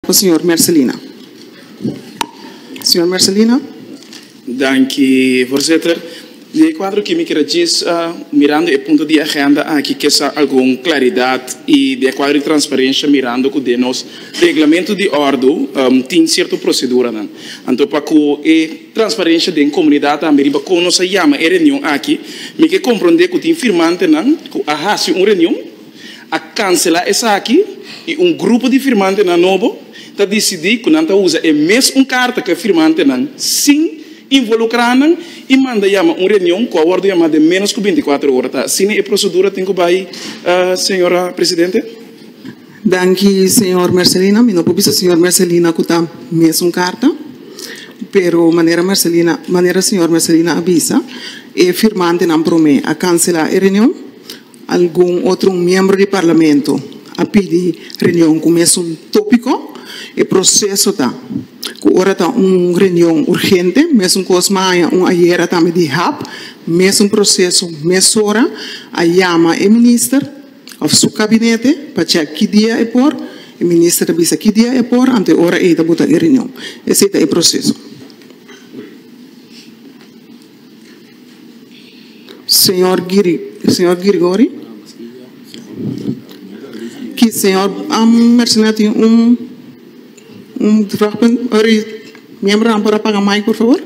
Ku señor Mercelina. Señor Mercelina. Danki, Voorzitter. Na e kuadro aki mi kira djisa, mirando e punto di agenda aki, kesa algun klaridat i den e kuadro di transparensha mirando ku den nos Reglamentu di Òrdu tin sierto proseduranan. Anto pa ku e transparensha den komunidat tambe riba kon nos a yama e reunion aki, mi ke komprondé ku tin firmantenan ku a hasi un reunion, a kanselá esaki i un grupo di firmantenan nobo ta disidí ku nan ta usa e mes un karta ku e firmantenan sin involukrá nan i manda yama un reunion ku a wòrdu yamá den ménos ku binti kuater ora. Ta asina e prosedura tin ku bai, señor presidente. Danki, señor Mercelina. Mi no por bisa señor Mercelina ku ta mes un karta, pero manera Mercelina, manera señor Mercelina a bisa, e firmantenan promé a kanselá e reunion. Algun otro miembro di Parlamento a pidi reunion cu mesun topico. E proceso ta cu ora ta un reunion urgente, mesun cos maña un ayera tambe di hap, mesun proceso, mesora, a yama e minister of su cabinete pa check ki dia e por, e minister ta bisa ki dia e por, anto e ora ey ta bota e reunion. Esey ta e proceso. Señor Gregory, ki señor a mencioná tin un un vragpunt ori miembronan por a paga mai por favor?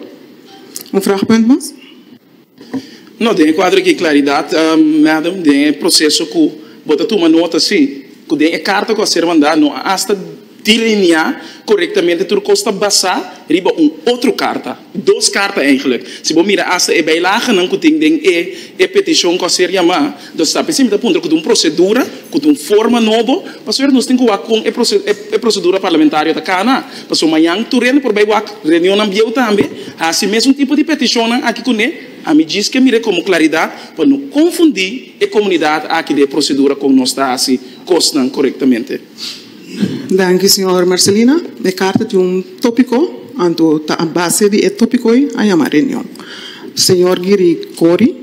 Un vragpunt mas? No den e cuadro aki claridad Madam den e proceso cu bo ta tuma nota si cu den e carta cu a ser mandá no a hasta Delineá korektamente tur kos ta basá riba un otro karta, dos karta eigenlik. Si bo mira asta e bijlagenan ku tin den e e petishon ku a ser yamá, nos ta p'esei mi ta puntra ku ta un prosedura, ku ta un forma nobo, pasobra nos tin ku wak kon e e prosedura parlamentario ta kana. Pasobra mañan tur hende por bai wak reunionnan bieu tambe hasi mesun tipo di petishonnan aki kuné. Ami djis ke mir'é komo klaridat pa no konfundí e komunidat aki den e prosedura kon nos ta hasi kosnan korektamente. Danki señor Marcelina. E karta tin un topiko, anto ta a base di e topiko ei a yama reunion. Señor Giri Kori.